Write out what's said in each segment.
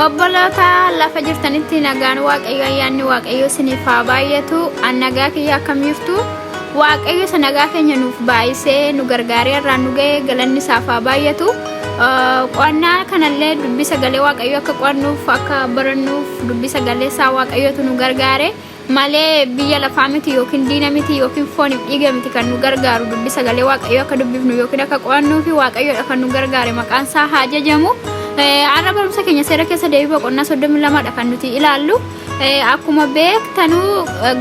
obboloota lafa jirtanitti nagaan waaqayyo ayyaanni waaqayyo isiniif haa baay'atu an nagaa kiyya akkam jirtu waaqayyo isa nagaa keenya nuuf baay'isee nu gargaaree irraa nu ga'e galanni isaaf haa baay'atu qo'annaa kanallee dubbii sagalee waaqayyo akka qo'annuuf akka barannuuf dubbii sagalee isaa waaqayyotu nu gargaare malee biyya lafaa miti yookiin diina miti yookiin fooniif dhiiga miti kan nu gargaaru dubbi sagalee waaqayyoo akka dubbifnu yookiin akka qo'annuu fi waaqayyoodha kan nu gargaare maqaan isaa haa jajamu. Har'a barumsa keenya seera keessa deebii boqonnaa soddomii lamadha kan nuti ilaallu. Akkuma beektanuu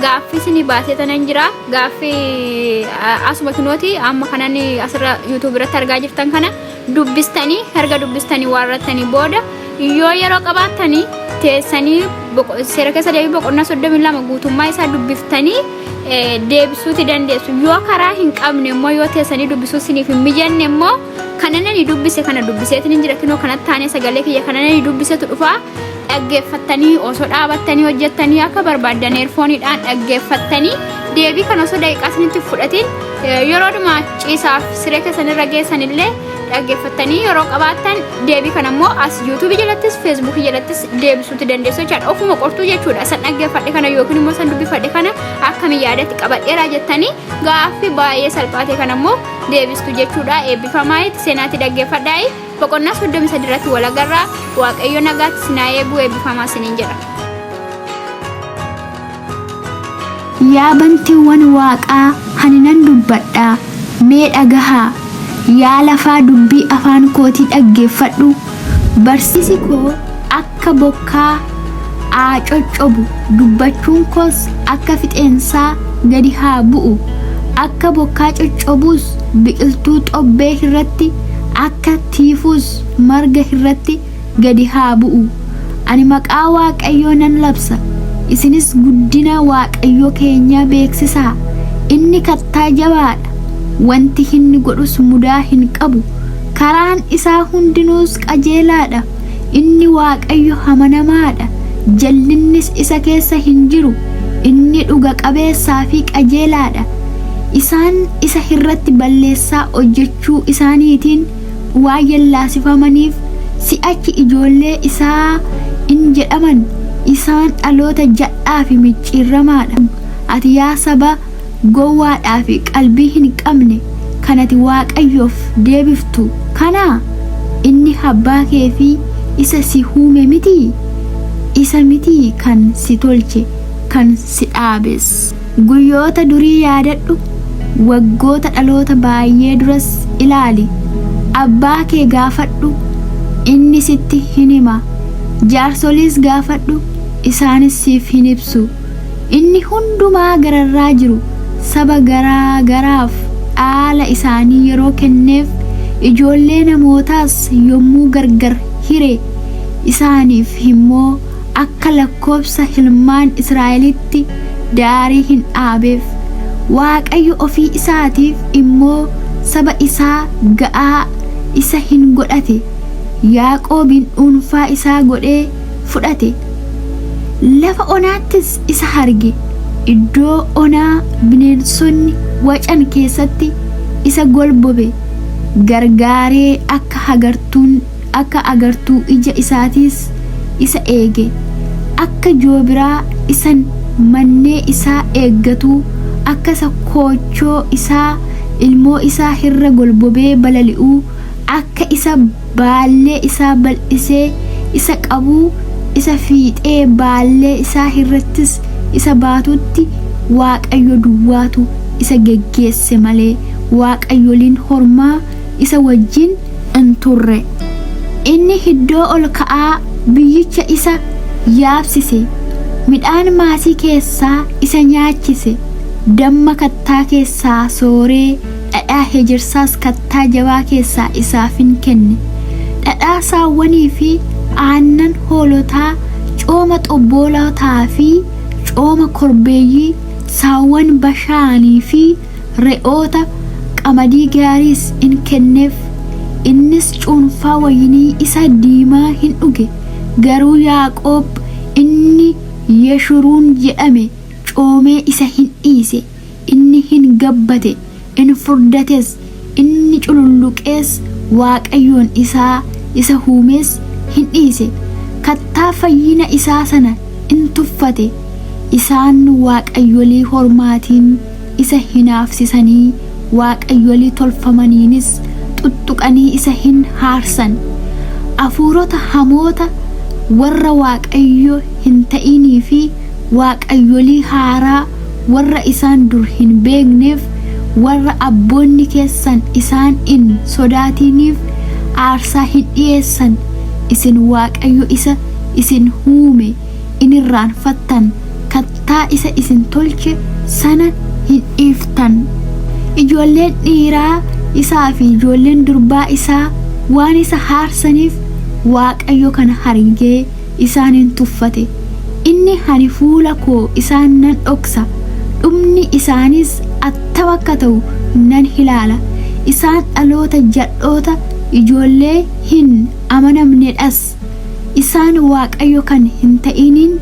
gaaffii isinii baasee tanan jira. Gaaffii asuma kinooti amma kanan asirra yuutuub irratti argaa jirtan kana dubbistanii erga dubbistanii waarrattanii booda yoo yeroo qabaattanii teessanii boqo- seera keessa deebii boqonnaa 32 guutummaa isaa dubbiftanii eh, deebisuuti dandeessu yoo karaa hin qabne immoo yoo teessanii dubbisuu siniif hin mijanne immoo kanan ani dubbise kana dubbiseetiin hin jiratinoo kanatti taanee sagalee kiyya kanan ani dubbisetu dhufaa dhaggeeffattanii osoo dhaabattanii hojjettanii akka barbaaddan eerfooniidhaan dhaggeeffattanii deebii kan osoo daqiiqaa isinitti fudhatiin yeroo dhuma ciisaaf siree keessan irra geessan illee dhaggeeffattanii yeroo qabaattan deebii kan ammoo as yuutuubii jalattis feesbuukii jalattis deebisuutti dandeessu jechaadha ofuma qortuu jechuudha san dhaggeeffadhe kana yookiin immoo san dubbifadhe kana akkamiin yaadatti qabadheera jettanii gaaffii baay'ee salphaate kan ammoo deebistu jechuudha eebbifamaa itti seenaatti dhaggeeffadhaa Boqonnaa 33 irratti wal agarra. Waaqayyo nagaatti isin haa eegu eebbifamaa isiniin jedha. Yaa bantiiwwan waaqaa ani nan dubbadha, mee dhagahaa! Yaa lafaa dubbii afaan kootii dhaggeeffadhu! Barsiisi koo akka. akka bokkaa aa coccobu dubbachuun koos akka fixeensaa gadi haa bu'u akka bokkaa coccobuus biqiltuu xobbee hirratti akka tiifuus marga hirratti gadi haa bu'u ani maqaa waaqayyoo nan labsa isinis guddina waaqayyoo keenyaa beeksisaa inni kattaa jabaadha wanti hinni godhus mudaa hin qabu karaan isaa hundinuus qajeelaadha Inni Waaqayyo amanamaa dha, jal'innis isa keessa hin jiru, inni dhuga qabeessaa fi qajeelaa dha. Isaan isa irratti balleessaa hojjechuu isaaniitiin waan yallaasifamaniif, si'achi ijoollee isaa in jedhaman, isaan dhaloota jal'aa fi micciirramaa dha. Ati yaa saba, gowwaadhaa fi qalbii hin qabne kan ati Waaqayyoof deebiftu kanaa? Inni abbaa kee fi isa si uume mitii? Isa mitii kan si tolche, kan si dhaabes? Guyyoota durii yaadadhu, waggoota dhaloota baay'ee duras ilaali. Abbaa kee gaafadhu, inni sitti hin hima, jaarsoliis gaafadhu, isaanis siif hin ibsu. Inni hundumaa gararraa jiru saba garaa garaaf dhaala isaanii yeroo kenneef, ijoollee namootaas yommuu gargar hire, isaaniif immoo akka lakkoobsa ilmaan Israa'elitti daarii hin dhaabeef. Waaqayyo ofii isaatiif immoo saba isaa ga'aa isa in godhate, Yaaqoobin dhuunfaa isaa godhee, fudhate. Lafa onaattis isa arge. Iddoo onaa bineensonni wacan keessatti isa golbobe gargaaree akka hagartuun akka agartuu ija isaatiis isa eege. Akka joobiraa isan mannee isaa eeggatuu akka isa koochoo isaa ilmoo isaa irra golbobee balali'uu akka isa baallee isaa bal'isee isa qabuu isa fiixee baallee isaa irrattis isa baatutti Waaqayyo duwwaatu isa geggeesse malee waaqayyoliin hormaa isa wajjin in turre. Inni iddoo ol ka'aa biyyicha isa yaabsise, midhaan maasii keessaa isa nyaachise, damma kattaa keessaa sooree Dhadhaa hejersaas kattaa jabaa keessaa isaafin kenne. Dhadhaa saawwanii fi aannan hoolotaa, cooma xobboolotaa fi cooma korbeeyyii, saawwan Bashaanii fi re'oota, qamadii gaariis in kenneef. Innis cuunfaa wayinii isa diimaa hin dhuge, garuu Yaaqoob inni Yeshuruun jedhame coomee isa hin dhiise. Inni hin gabbate, in furdates, inni cululluqees Waaqayyoon isaa isa huumees hin dhiise, kattaa fayyina isaa sana in tuffate, isaan waaqayyolii hormaatiin isa hinaafsisanii, waaqayyolii tolfamaniinis xuxxuqanii isa hin haarsan, afuurota hamoota warra Waaqayyo hin ta'inii fi waaqayyolii haaraa warra isaan dur hin beekneef, warra abboonni keessan isaan in sodaatiniif aarsaa hin dhi'eessan, isin Waaqayyo isa isin huume in irraanfattan, kattaa isa isin tolche sana hin dhiiftan. Ijoolleen dhiiraa isaa fi ijoolleen durbaa isaa waan isa haarsaniif, Waaqayyo kana hargee, isaan in tuffate. Inni, Ani fuula koo isaan nan dhoksa, dhumni isaaniis attam akka ta'u nan ilaala, isaan dhaloota jadhoota, ijoollee hin amanamne dhas, isaan Waaqayyo kan hin ta'iniin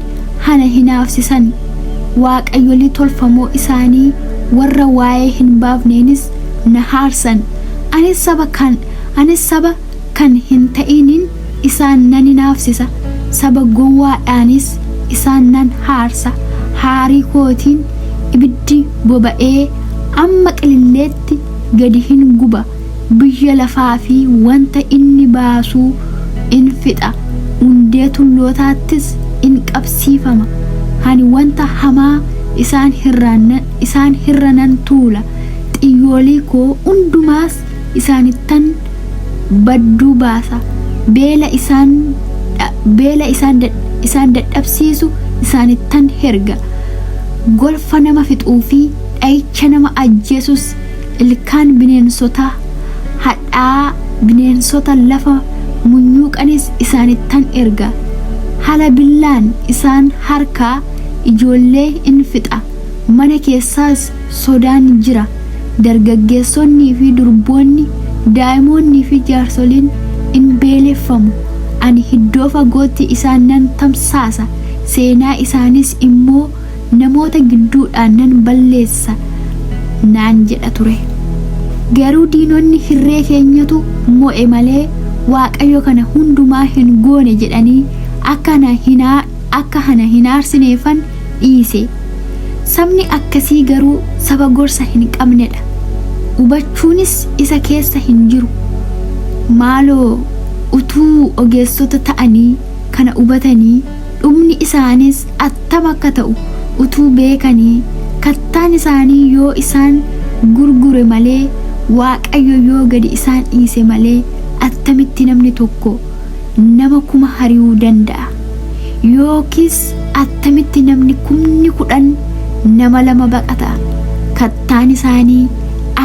hana hinaafsisan, waaqayyolii tolfamoo isaanii warra waa'ee hin baafneenis na haarsan, anis saba kan, anis saba kan hin ta'iniin isaan nan hinaafsisa, saba gowwaadhaanis isaan nan haarsa, haarii kootiin ibiddi boba'ee amma qililleetti gadi hin guba, biyya lafaa fi wanta inni baasuu in fixa, hundee tullootaattis in qabsiifama, ani wanta hamaa isaan irraa nan tuula, xiyyoolii koo hundumaas isaanittan badduu baasa, beela isaan, dha, beela isaan, dad, isaan dadhabsiisu isaanittan herga, golfa nama fixuu fi dha'icha nama ajjeesus ilkaan bineensota hadhaa'aa, bineensota lafa munyuuqanis isaanittan erga. Hala billaan isaan harkaa ijoollee in fixa, mana keessaas sodaan jira. dargaggeessonnii fi durboonni, daa'imoonnii fi jaarsoliin in beeleffamu, ani hiddoo fagootti isaan nan tamsaasa, seenaa isaaniis immoo namoota gidduudhaa nan balleessa naan jedha ture. Garuu diinonni hirree keenyatu mo'e malee Waaqayyo kana hundumaa hin goone jedhanii akka ana hin akka ana hin aarsineefan dhiise. Sabni akkasii garuu saba gorsa hin qabnedha. Hubachuunis isa keessa hin jiru. Maaloo utuu ogeessota ta'anii kana hubatanii dhumni isaaniis attam akka ta'u utuu beekanii kattaan isaanii yoo isaan gurgure malee Waaqayyo yoo gadi isaan dhiise malee attamitti namni tokko nama kuma hari'uu danda'a? Yookiis attamitti namni kumni kudhan nama lama baqata? Kattaan isaanii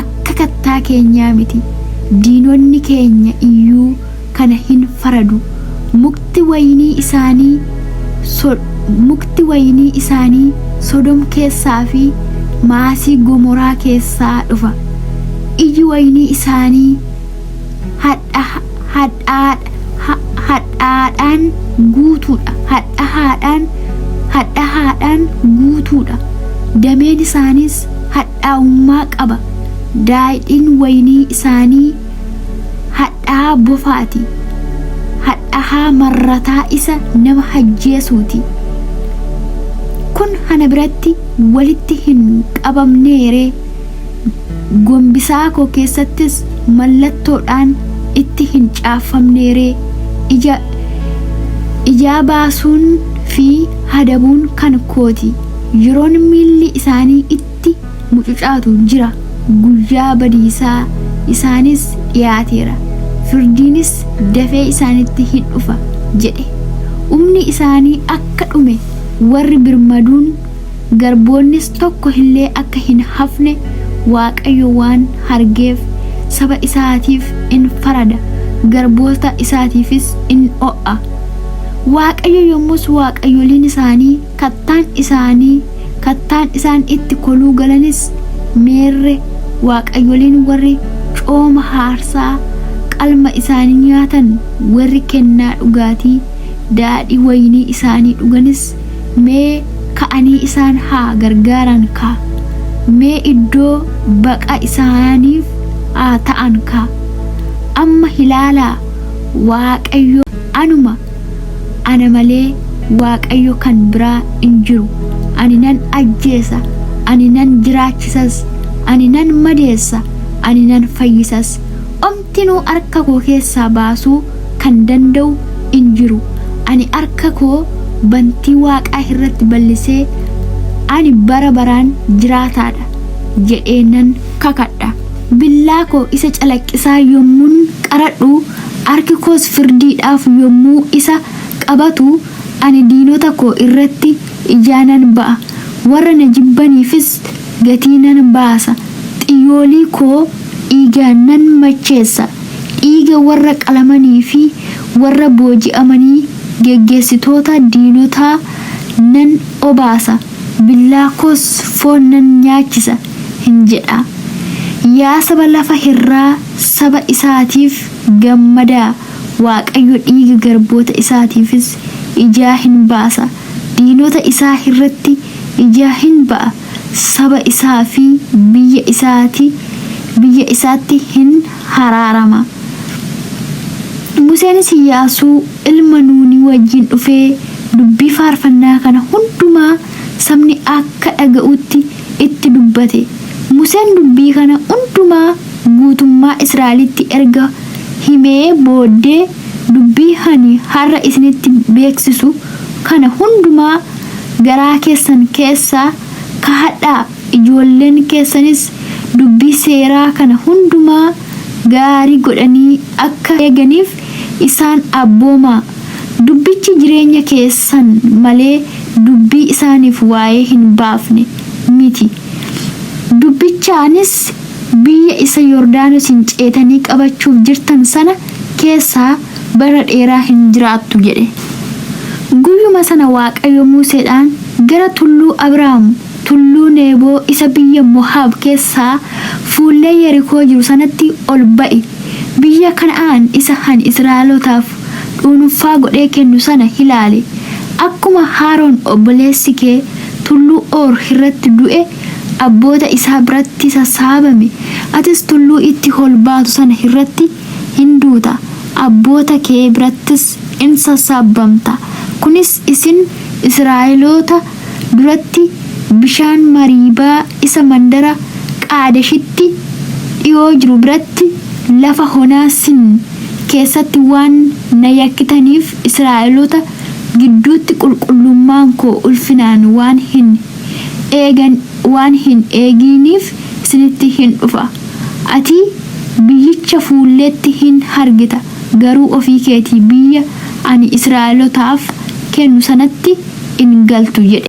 akka kattaa keenyaa miti, diinonni keenya iyyuu kana hin faradu. Mukti wayinii isaanii, so, mukti wayinii isaanii Sodom keessaa fi maasii Gomoraa keessaa dhufa. Iji wayinii isaanii hadha hadhaadha hadhaadhaan guutuudha hadha haadhaan hadha haadhaan guutuudha dameen isaaniis hadhaa'ummaa qaba daadhiin waynii isaanii hadhaa bofaati hadhahaa marrataa isa nama hajjeesuuti kun hana biratti walitti hin qabamneeree Gombisaa koo keessattis mallattoodhaan itti hin caaffamneeree? Ija ijaa baasuun fi hadabuun kan kooti. Yeroon miilli isaanii itti mucucaatu jira, guyyaa badiisaa isaaniis dhiyaateera, firdiinis dafee isaanitti hin dhufa jedhe. Umni isaanii akka dhume warri birmaduun garboonnis tokko illee akka hin hafne Waaqayyo waan argeef, saba isaatiif in farada, garboota isaatiifis in oo'a. Waaqayyo yommus waaqayyoliin isaanii, kattaan isaanii, kattaan isaan itti koluu galanis, meerre, waaqayyoliin warri cooma haarsaa qalma isaanii nyaatan, warri kennaa dhugaatii daadhii wayinii isaanii dhuganis, Mee ka'anii isaan haa gargaaran kaa! Mee iddoo baqa isaaniif haa ta'an kaa! Amma hilaalaa Waaqayyo anuma, ana malee Waaqayyo kan biraa in jiru, ani nan ajjeesa, ani nan jiraachisas, ani nan madeessa, ani nan fayyisas, Martinuu arka koo keessaa baasuu kan danda'u in jiru, ani arka koo bantii waaqaa irratti bal'isee, Ani bara baraan jiraataa dha jedhee nan kakadha, billaa koo isa calaqqisaa yommuun qaradhu, arki koos firdiidhaaf yommuu isa qabatu, ani diinota koo irratti ijaa nan ba'a, warra na jibbaniifis gatii nan baasa, xiyyoolii koo dhiigaan nan macheessa, dhiiga warra qalamanii fi warra booji'amanii geggeessitoota diinotaa nan obaasa, billaa koos foon nan nyaachisa in jedha. Yaa saba lafa irraa, saba isaatiif gammadaa! Waaqayyo dhiiga garboota isaatiifis ijaa hin baasa, diinota isaa hirratti ijaa hin ba'a, saba isaa fi biyya isaati biyya isaatti hin haraarama. Museenis Iyyaasuu ilma Nuunii wajjin dhufee dubbii faarfannaa kana hundumaa sabni akka dhaga'utti itti dubbate. Museen dubbii kana hundumaa. guutummaa Israa'elitti erga himee booddee, Dubbii ani har'a isinitti beeksisu kana hundumaa garaa keessan keessaa kahadhaa, ijoolleen keessanis dubbii seeraa kana hundumaa gaarii godhanii akka eeganiif isaan abboomaa, dubbichi jireenya keessan malee dubbii isaaniif waa'ee hin baafne miti, dubbichaanis. Biyya isa Yordaanosiin ceetanii qabachuuf jirtan sana keessa bara dheeraa hin jiraattu jedhe. Guyyuma sana Waaqayyo Museedhaan, Gara tulluu Abraam, tulluu Neeboo isa biyya Mohaab keessaa fuullee Yerikoo jiru sanatti ol ba'i, biyya Kana'aan isa ani Israa'elootaaf dhuunfaa godhee kennu sana ilaali, akkuma Haaron obboleessi kee tulluu Hoor irratti du'e abboota isaa biratti sassaabame, atis tulluu itti ol baatu sana irratti in duuta, abboota kee birattis in sassaabamta, kunis isin Israa'eloota duratti bishaan Mariibaa isa mandara Qaadeshitti dhi'oo jiru biratti lafa onaa Siin keessatti waan na yakkitaniif, Israa'eloota gidduutti qulqullummaan koo ulfinaan waan hin. eegan waan hin eegiiniif sinitti hin dhufa. Ati biyyicha fuulleetti hin hargita, garuu ofii keetii biyya ani Israa'elotaaf kennu sanatti in galtu jedhe.